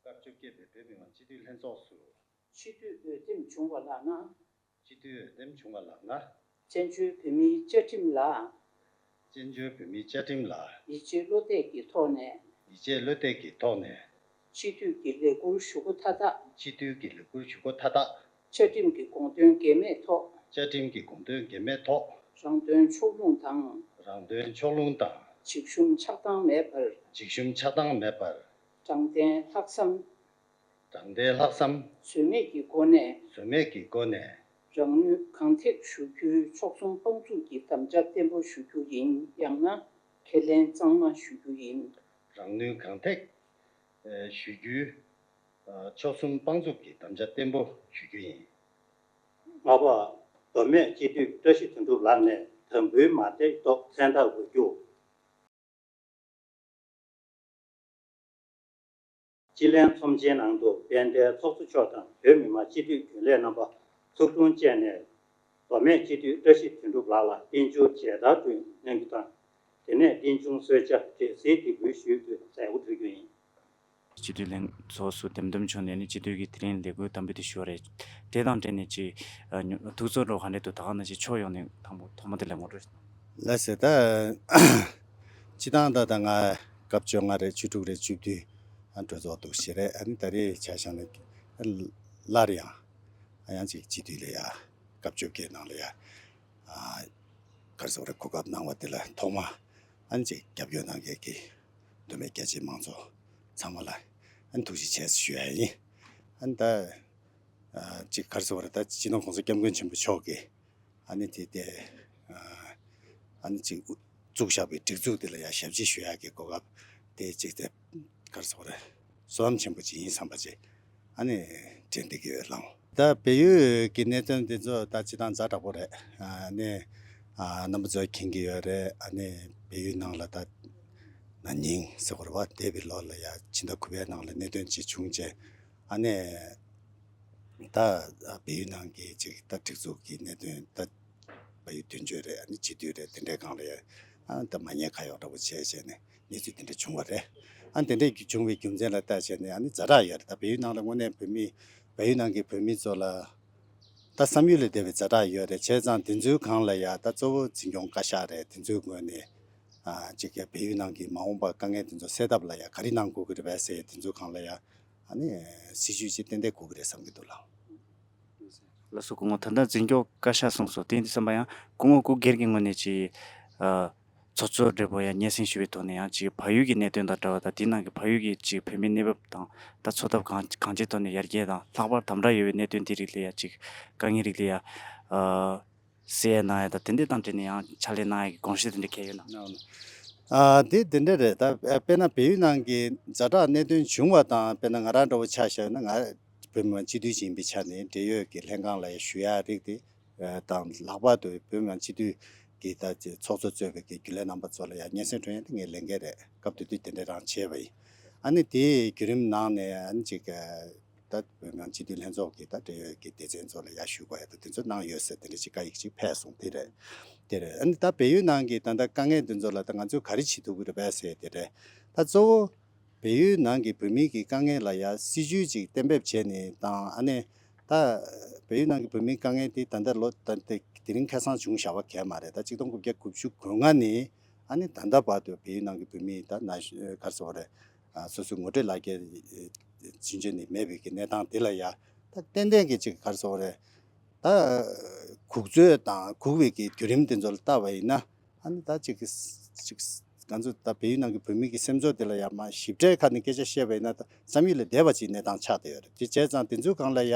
སྐབས་བཅོ་བརྒྱད་པའི་བོད་མི་མང་སྤྱི་འཐུས་ལྷན་ཚོགས་སུ། སྤྱི་འཐུས་འོས་འདེམས་བྱུང་བ་ལགས་ན། སྤྱི་འཐུས་འོས་འདེམས་བྱུང་བ་ལགས་ན། བཙན་བྱོལ་བོད་མིའི་བཅའ་ཁྲིམས་ལ། བཙན་བྱོལ་བོད་མིའི་བཅའ་ཁྲིམས་ལ། ཡིད་ཆེས་བློ་གཏད་ཀྱི་ཐོག་ནས། ཡིད་ཆེས་བློ་གཏད་ཀྱི་ཐོག་ནས། སྤྱི་འཐུས་ཀྱི་ལས་འཁུར་ཞུ་སྒོ་མཐའ་དག། སྤྱི་འཐུས་ཀྱི་ལས་འཁུར་ཞུ་སྒོ་མཐའ་དག། བཅའ་ཁྲིམས་ཀྱི་དགོངས་དོན་འགལ་མེད་ཐོག། བཅའ་ཁྲིམས་ཀྱི་དགོངས་དོན་འགལ་མེད་ཐོག། རང་དོན་ཕྱོགས་ལྷུང་དང། རང་དོན་ཕྱོགས་ལྷུང་དང། འཇིགས་ཞུམ་ཆགས་སྡང་མེད་པར། འཇིགས་ཞུམ་ཆགས་སྡང་མེད་པར། དྲང་བདེན་ལྷག་བསམ། དྲང་བདེན་ལྷག་བསམ། ཟོལ་མེད་ཀྱི་སྒོ་ནས། ཟོལ་མེད་ཀྱི་སྒོ་ནས། རང་ནུས་གང་ཐེག་ཞུ་རྒྱུའི་ཕྱོགས་གསུམ་དཔང་བཙུགས་ཀྱི་དམ་བཅའ་བརྟན་པོ་ཞུ་རྒྱུ་ཡིན་ཡང་ན་ཁས་ལེན་གཙང་མ་ཞུ་རྒྱུ་ཡིན། རང་ནུས་གང་ཐེག་ཞུ་རྒྱུའི། མཆོག་གསུམ་དཔང་བཙུགས་ཀྱི་དམ་བཅའ་བརྟན་པོ་ཞུ་རྒྱུ་ཡིན། ལྔ་པ། མདོ་སྨད་སྤྱི་འཐུས་བཀྲ་ཤིས་དོན་གྲུབ་ལགས་ནས་དམ་འབུལ་མ་འདེགས་ཐོག་མཚན་རྟགས་འགོད་རྒྱུ། སྤྱི་ལྷན་ཚོམས་ཆེན་ནང་དུ་དཔལ་ལྡན་ཚོགས་གཙོ་མཆོག་དང་བོད་མི་མང་སྤྱི་འཐུས་རྒྱུན་ལས་རྣམ་པ་ཚོགས་དྲུང་བཅས་ནས། མདོ་སྨད་སྤྱི་འཐུས་བཀྲ་ཤིས་དོན་གྲུབ་ལགས་ལ་རྟེན་འབྱུང་མཇལ་དར་བསྐྲུན་གནང་རྒྱུ་དང། དེ་ནས་རྟེན་འབྱུང་གསོལ་ཇ་འབྲས་གསེར་གྱི་འབུལ་ཞུས་ཀྱི་མཛད་སྒོ་གྲོལ་རྒྱུ་ཡིན། སྤྱི་འཐུས་ལྷན་ཚོགས་སུ་འདེམས་ཐོམ་བྱུང་ནས་ནི་སྤྱི་འཐུས་ཀྱི་དེ་རིང་ལས་འགུལ་དམ་འབུལ་དེ་ཞུ་བ་རེད། དེ་དང་འབྲེལ་ནས་ཅི། ཐུགས་ཚོར་འགྲོ་ག་འདྲེ་འདུག་ད་ག་ནང་བཞིན་ཕྱོགས་ཡོངས་ནས་དང་པོ་ཐོག་མ་དེ་ལས་ངོ་སྤྲོད་གནང། ལ་ཟེར་ད། སྤྱི་སྟངས་ད་ད་ང་སྐབས་བཅོ་ལྔ་རེད་བཅུ་དྲུག་རེད་བཅུ་བདུན་གྲོས་ཚོགས་འདུག་བཞི་རེད་ཨ་ནི་ད་རེས་བྱ་བཞག་ནི། སླར་ཡང། ཡང་ཅིག་སྤྱི་འཐུས་ལ་ཡ། སྐབས་བཅོ་བརྒྱད་ནང་ལ་ཡ། སྐར་ཚོགས་རེ་གོ་སྐབས་གནང་བ་དེ་ལ་ཐོག་མ། ཨ་ནི་ཅིག་རྒྱབ་སྐྱོར་གནང་མཁན་གྱི། འདུན་པའི་རྒྱལ་གཅེས་མང་ཚོགས་ཚང་མ་ལ་ཐུགས་རྗེ་ཆེ་ཞུ་ཡ་ཡིན། ད་ཅིག་གར་སོང་བར་ད་སྤྱི་ནོར་ཁོང་ཚོ་སྐྱབས་མགོན་ཆེན་པོ་མཆོག་གིས་ཨ་ནི་དེ་དེ་ཨ་ནི་ཅིག་བཙུགས་བཞག་པའི་སྒྲིག་འཛུགས་དེ་ལ་ཡང་ཞབས་ཕྱི་ཞུ་ཡ་གི་གོ་སྐབས་དེ་ཅིག་དེ་གར་སོང་བར། བསོད་ནམས་ཆེན་པོ་ཅི་ཡིན་བསམ་པར་བྱས། ཨ་ནི་དྲན་ཏེ་དགེ་བས་བསླང། ད་བལ་ཡུལ་གྱི་གནད་དོན་འདི་ཚོ་ད་ཅི་དང་འཛའ་དྲག་པོ་རེད། ཨ་ནི་རྣམ་པ་ཚོ་མཁྱེན་གྱི་ཡོད་རེད། ཨ་ནི་བལ་ཡུལ་ནང་ལ་ད་ན་ཉིང་སེ་ཧོར་བ་འདས་པའི་ལོ་ལ་ཡང་ཕྱི་ཟླ་དགུ་བའི་ནང་ལ་གནད་དོན་ཅི་བྱུང་བྱས། ཨ་ནི་ད་བལ་ཡུལ་ནང་གི་ཅིག་ད་སྒྲིག་འཛུགས་ཀྱི་གནད་དོན་ད་བལ་ཡུལ་དུས་མཆོད་རེད་ཨ་ནི་སྤྱི་འཐུས་རེད་དེ་འདྲའི་སྒང་ལ་ཡོད། ཨ་ད་མ་ཉེས་ཁ་གཡོག་འདྲ་པོ་བྱས་བྱས་ནས། གནས་ཚུལ་དེ་འདྲ་བྱུང་བ་རེད། ཨ་དེ་འདྲས་བྱུང་བའི་རྒྱུ་མཚན་ལ་བལྟ་བྱས་ནས་ཨ་ནི་རྫ་དྲག་ཡོད་རེད་ད་བལ་ཡུལ་ནང་ལ་དངོས་གནས་བོད་མི་བལ་ཡུལ་ནང་གི་བོད་མི་ཚོ་ལ་ད་བསམ་ཡུལ་ལས་འདས་པའི་རྫ་དྲག་ཡོད་རེད་བྱས་ཙང་དེ་ཚོའི་སྒང་ལ་ཡང་ད་གཙོ་བོ་འཛིན་སྐྱོང་བཀའ་ཤག་རེད་དེ་ཚོའི་ངོས་ནས་ཅིག་ཀྱང་བལ་ཡུལ་ནང་གི་མ་འོངས་པ་དཀའ་ངལ་དེ་ཚོ་སེལ་ཐབས་ལ་ཡང་ག་རེ་གནང་དགོས་ཀྱི་རེད་བལ་སེ་དེ་ཚོའི་སྒང་ལ་ཡང་ཨ་ནི་སྲིད་བྱུས་ཅིག་གཏན་འདེད་དགོས་ཀྱི་རེད་བསམ་གྱི་འདུག་ལགས། ལགས་སོ་སྐུ་ངོ་ད་ལྟ་འཛིན་སྐྱོང་བཀའ་ཤག་གསུངས་སོ་དེ་འདྲ་བསམ་པ་ཡང་སྐུ་ངོ་སྐུ་སྒེར་གྱི་ངོས་ནས་ཅིག། ཚོགས་གཙོ་སྦྲེལ་པོ་ཡང་སྙན་སེང་ཞུ་བའི་ཐོག་ནས་ཡང་གཅིག་བལ་ཡུལ་གྱི་གནད་དོན་དང་འདྲ་བ་དང་དེའི་ནང་གི་བལ་ཡུལ་གྱི་གཅིག་བོད་མིའི་གནས་བབ་དང་ད་འཚོ་ཐབས་གང་གང་ཅིའི་ཐོག་ནས་ཡར་རྒྱས་དང་ལྷག་པར་དམ་དྲག་ཡོད་པའི་གནད་དོན་དེ་རིགས་ལ་ཡང་གཅིག་དཀའ་ངལ་རིགས་ལ་ཡང། སེ་ཡས་གནང་ཡ་དང་དེ་འདྲས་དང་འབྲེལ་ནས་ཡང་ཕྱག་ལས་གནང་ཡ་གི་དགོངས་བཞེས་དེ་འདྲས་གལ་ཡོད་ན། དེ་དེ་འདྲས་རེད་ད་དཔེར་ན་བལ་ཡུལ་ནང་གི་ཛ་དྲག་གནད་དོན་བྱུང་བ་དང་དཔེར་ན་ང་རང་འདྲ་བོ་ཆགས་བཞག་ཡོད་ན་ང་བོད་མི་མང་སྤྱི་འཐུས་ཤིག་ཡིན་པའི་ཆ་ནས་འབྲེལ་ཡོད་ཀྱི་ལྷན་ཁང་ལ་ཡང་ཞུ་ཡ་རིགས་དེ་དང་ལྷག་པར་དུ་བོད་མི་མང་སྤྱི་འཐུས་ཀྱི་ད་ཚོགས་གཙོ་གཙོས་པའི་རྒྱུན་ལས་རྣམ་པ་ཚོ་ལ་ཡང་སྙན་སེང་སྤྲོད་ཡོང་དེ་ངས་ལས་འགན་རེད་སྐབས་དེ་དུས་དེ་འདྲ་རང་བྱས་པ་ཡིན། ཨ་ནི་དེའི་བརྒྱུད་རིམ་ནང་ནས་ཨ་ནི་ཅིག་ད་བོད་མི་མང་སྤྱི་འཐུས་ལྷན་ཚོགས་ཀྱི་ད་འབྲེལ་ཡོད་ཀྱི་སྡེ་ཚན་ཚོ་ལ་ཡར་ཞུ་དགོས་ཡོད་དོ་དེ་ཚོ་གནང་ཡོད་ཟེར་དེ་འདྲ་ཅིག་བཀའ་ཡིག་ཅིག་ཕེབས་སོང་དེ་རེད་དེ་རེད་ཨ་ནི་ད་བལ་ཡུལ་ནང་གི་ད་ད་དཀའ་ངལ་དེ་ཚོ་ལ་ད་ང་ཚོས་ག་རེ་བྱེད་ཐུབ་ཀྱི་རེད་བས་ཟེར་དེ་རེད་ད་གཙོ་བོ། བལ་ཡུལ་ནང་གི་བོད་མི་གི་དཀའ་ངལ་ལ་ཡང་སྲིད་ཇུས་ཅིག་གཏན་འབེབས་བྱས་ནས་དང་ཨ་ནེ། ད། བལ་ཡུལ་ནང་གི་བོད་མིའི་དཀའ་ངལ་དེ་ད་ལྟ་ལོ་ད་ལྟ་དེ་རིང་ཁེ་སང་བྱུང་བཞག་བ་གལ་མ་རེད་ད་གཅིག་སྟོང་དགུ་བརྒྱ་དགུ་བཅུ་དགུ་ལྔ་ནས་ཨ་ནེ་ད་ལྟ་བར་དུ་བལ་ཡུལ་ནང་གི་བོད་མི་ད་ན་གར་སོང་བ་རེད། སོ་སོའི་ངོ་སྤྲོད་ལག་ཁྱེར་བྱིན་ཆོད་ནི་མེད་བོད་ཀྱི་གནས་སྟངས་དེ་ལ་ཡང་ད་ཏན་ཏན་གྱི་ཅིག་གར་སོང་བ་རེད། ད། གུག་རྩོད་དང་གུག་བེད་ཀྱི་དུས་རིམ་དེ་ཚོ་ལ་བལྟ་བ་ཡིན་ན། ཨ་ནི་ད་ཅིག་ཅིག། ང་ཚོ་ད་བལ་ཡུལ་ནང་གི་བོད་མི་གི་སེམས་ཚོར་དེ་ལ་ཡ་མ་ཞིབ་ཕྲའི་ཁ་ནས་སྐད་ཆ་བཤད་པ་ཡིན་ན་ད་བསམ་ཡུལ་ལས་འདས་པ་ཅིག་གནས་སྟངས་ཆགས་བསྡད་ཡོད་རེད་དེ་བྱས་ཙང་དེ་ཚོའི་སྒང་ལ་ཡ་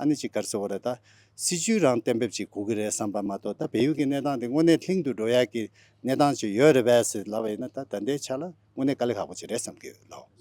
ཨ་ནི་ཅིག་གར་ཟེར་བ་རེད་ད། སྲིད་བྱུས་རང་གཏན་འབེབས་ཅིག་གོ་གི་རེད་བསམ་པ་མ་གཏོགས་ད་བལ་ཡུལ་གི་གནས་སྟངས་དེ་དངོས་གནས་ལྷིང་དུ་འགྲོ་ཡག་གི་གནས་སྟངས་ཅིག་ཡོད་རེད་བས་ཟེར་ལབ་པ་ཡིན་ན་ད་ད་ལྟའི་ཆ་ལ་དངོས་གནས་དཀའ་ལས་ཁག་པོ་ཅིག་རེད་བསམ་གི་ཡོད་ལགས།